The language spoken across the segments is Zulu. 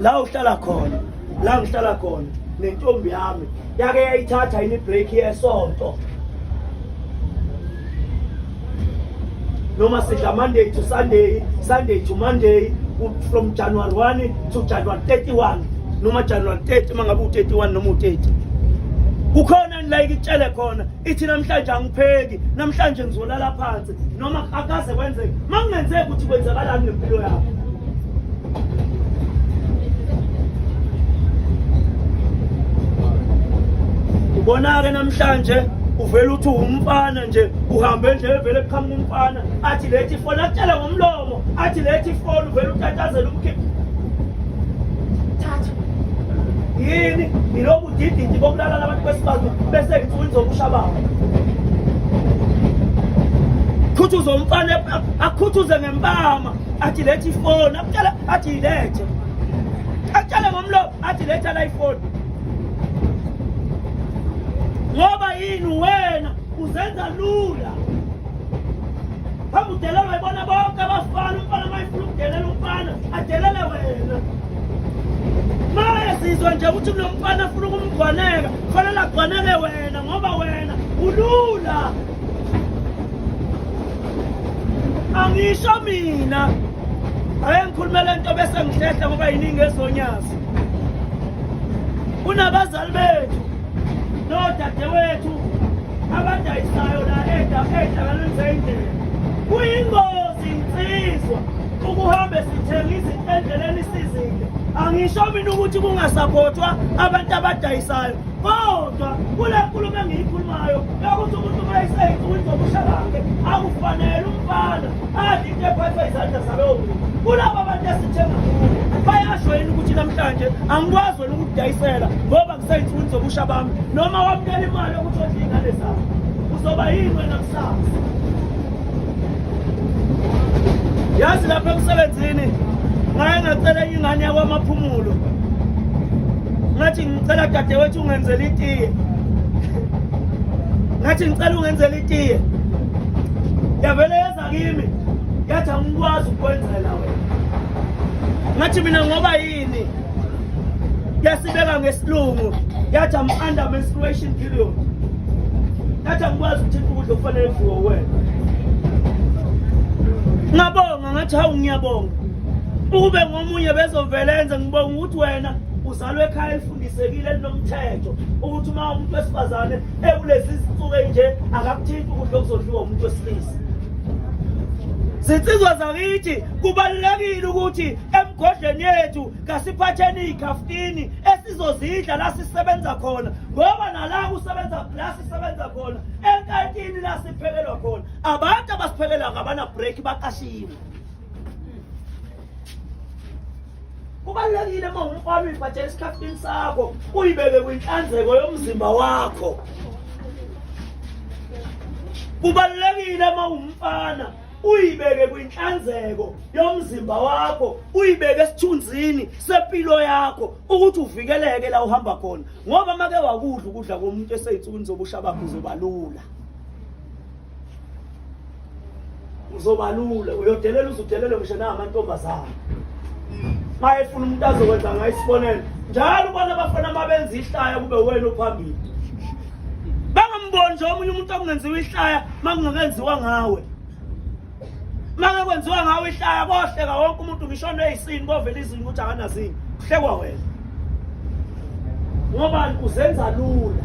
la uhlala khona la ngihlala khona nentombi yami yake yayithatha yini ibreak yesonto noma sidla monday to sunday sunday to monday from january 1 to january 31 noma january 30 mangabe u-31 noma u-30 kukhona ngilayike itshele khona ithi namhlanje angipheki namhlanje ngizolala phansi noma akaze kwenzeke uma kungenzeki ukuthi kwenzakalani ngempilo yakho ubona-ke namhlanje uvele uthi umfana nje uhambe nje evele kuqhamuka umfana athi lethi fona akutshela ngomlomo athi lethi ifoni uvele utatazela umkhiphi thatha yini yilobu dididi bokulalala abantu besibazwe bese ngithi uyinzokusha babo khuthuza umfana akhuthuze ngempama athi lethi ifoni akutshela athi yilethe akutshele ngomlomo athi letha la ifoni ngoba yini wena uzenza lula Hamba udelelwe bona bonke abafana umfana mayifuna ukudelela umfana adelele wena maye sizwa nje ukuthi kunomfana afuna ukumgwaneka kufanele agwaneke wena ngoba wena ulula angisho mina aye ngikhulumela into bese ngihlehla ngoba yiningi ezonyazi kunabazali bethu nodadewethu abadayisayo la edlangalweni zeyindlela kuyingozi insizwa ukuhambe sithenga izinto endleleni isizile angisho mina ukuthi kungasaphothwa abantu abadayisayo kodwa kule nkulumo engiyikhulumayo yokuthi umuntu uma eseyinsukwini zobusha bakhe akufanele umfana adle into ephathwa izandla zalowo muntu kulaba bantu esithenga kubo bayasho yini ukuthi namhlanje angikwazi wena ukudayisela ngoba Saints wins obusha bami noma wamkela imali ukuthi odle ingane zabo uzoba yini wena kusasa yazi lapha emsebenzini ngaye ngacela enye ingane yakwamaphumulo ngathi ngicela dadewethu ungenzela itiye ngathi ngicela ungenzela itiye yavele yeza kimi yathi angikwazi ukwenzela wena ngathi mina ngoba Ini yasibeka ngesilungu yathi am under menstruation period yathi angikwazi ukuthinta ukudla okufanele kudliwe wena ngabonga ngathi hawu ngiyabonga ukube ngomunye bezovele enze ngibonga ukuthi wena uzalwe ekhaya elifundisekile elinomthetho ukuthi uma umuntu wesifazane ekulezi zinsuku enje akakuthinti ukudla okuzodliwa umuntu wesilisa zinsizwa zakithi kubalulekile ukuthi emgodleni yethu kasiphatheni iy'khaftini esizozidla la sisebenza khona ngoba nala kusebenza la sisebenza khona enkantini la siphekelwa khona abantu abasiphekela ngabana-break baqashiwe kubalulekile uma ungumfana uyibhathela esikhaftini sakho uyibeke kwinhlanzeko yomzimba wakho kubalulekile uma ungumfana uyibeke kwinhlanzeko yomzimba wakho uyibeke esithunzini sempilo yakho ukuthi uvikeleke la uhamba khona ngoba make wakudla ukudla komuntu eseyinsukwini zobusha bakho uzobalula uzobalula uyodelela uzudelele ngisho namantombazana maye funa umuntu azokwenza ngayo isibonelo njalo ubona abafana mabenza ihlaya kube wena ophambili bangamboni nje omunye umuntu okungenziwa ihlaya makungakenziwa ngawe makekwenziwa ngawe ihlaya kohleka wonke umuntu ngisho neyisini kovela izinto ukuthi akanazini kuhlekwa wena ngoba uzenza lula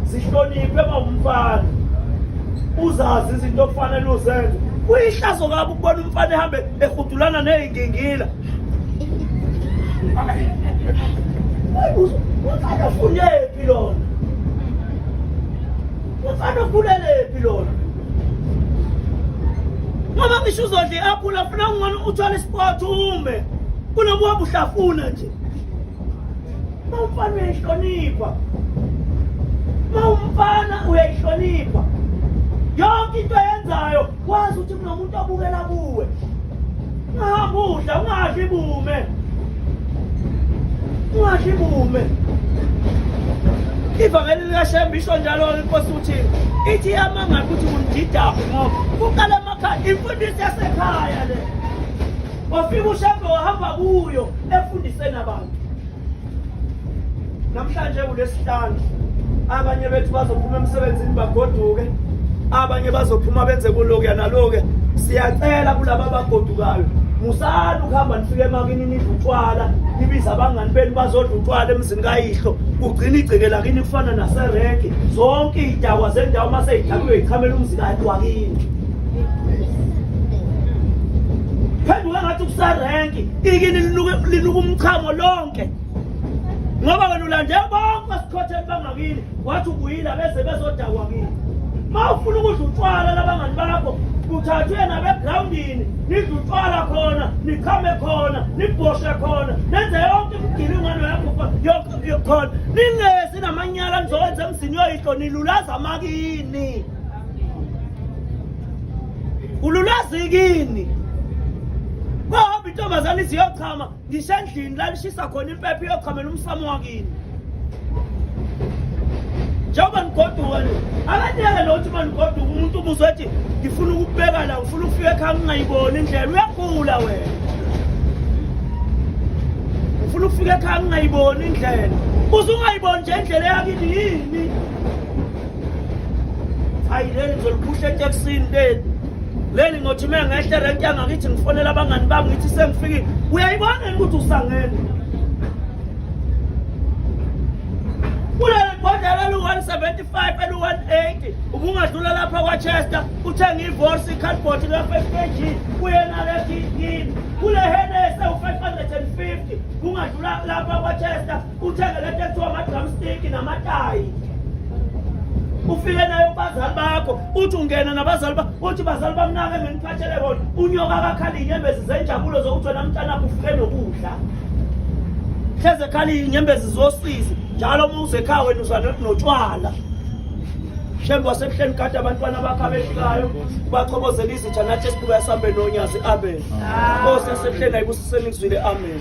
zihloniphe mawumfana uzazi izinto okufanele uzenze kuyihlazo kabi ukubona umfana ehambe ehudulana neyingingila ufunephi lona ufana ufulelephi lona ngoba ngisho uzodla i-aphula funa kungona uthwale isport ume kunoba uhamba uhlafuna nje ma umfana uyayihlonipha ma umfana uyayihlonipha yonke into ayenzayo wazi ukuthi kunomuntu obukela kuwe ungahambi udla ungadli bume ungadli bume ivangeli likashembe isho njalo inkosi uthi ithi yamanga ukuthi undidaphi ngoba kuqala emakhaya imfundiso yasekhaya le wafika ushembe wahamba kuyo efundiseni abantu namhlanje kulesihlanu abanye bethu bazophuma emsebenzini bagoduke abanye bazophuma benze kulokuya nalokuya siyacela kulaba abagodukayo musani ukuhamba nifike emakini nidla utshwala nibiza abangani benu bazodla utshwala emzini kayihlo kugcina igceke lakini kufana naserege zonke iy'dakwa zendawo uma seyidakwiwe yichamela umzi kayikwakini phenduka ngathi kuserenki ikini linuka umchamo lonke ngoba wena ulande bonke esikhotheni bangakini wathi ubuyile abeze bezodakwa kini ma ufuna ukudla utshwala labangani bakho kuthathwe nabegrawundini nidla utshwala khona nichame khona nibhoshe khona nenze yonke imigilingano yakho yokukhona ningezi namanyala nizowenza emzini yoyihlo nilulaza amakini ululwazi kini kohamba intombazane iziyochama ngisho endlini lalishisa khona impepha iyochamela umsamo wakini njengoba nigoduka nje abanyeke nokuthi uma nigoduka umuntu ubuze ethi ngifuna ukubeka la ngifuna ukufika ekhaya ngingayiboni indlela uyagula wena ngifuna ukufika ekhaya ngingayiboni indlela uze ungayiboni nje indlela yakini yini hayi leli ngizoliphusha etekisini leli leli ngothi uma ngehle rent yangakithi ngifonela abangani bami ngithi sengifikile uyayibona yini ukuthi usangene kuleli bhodlela elu-175 elu-180 ubungadlula lapha kwachester uthenge ivorsi icardboard ka-5 kg kuyena lefini kule henese u-550 ungadlula lapha kwachester uthenge le nto ekuthiwa ama-drumstick namatayi ufike naye kubazali bakho uthi ungena nabazali ba uthi bazali bamnake ngeniphathele bona unyoka kakhala iy'nyembezi zenjabulo zokuthi wena mntanakho ufuke nokudla hleze khala iy'nyembezi zosizi njalo uma uzekhaya wena uza notshwala shembe wasebuhleni kade abantwana bakho abefikayo ubachobozela izitha nathi esibuka esambe nonyazi amen nkosi yasebuhleni ayibusiseni ngizwile amen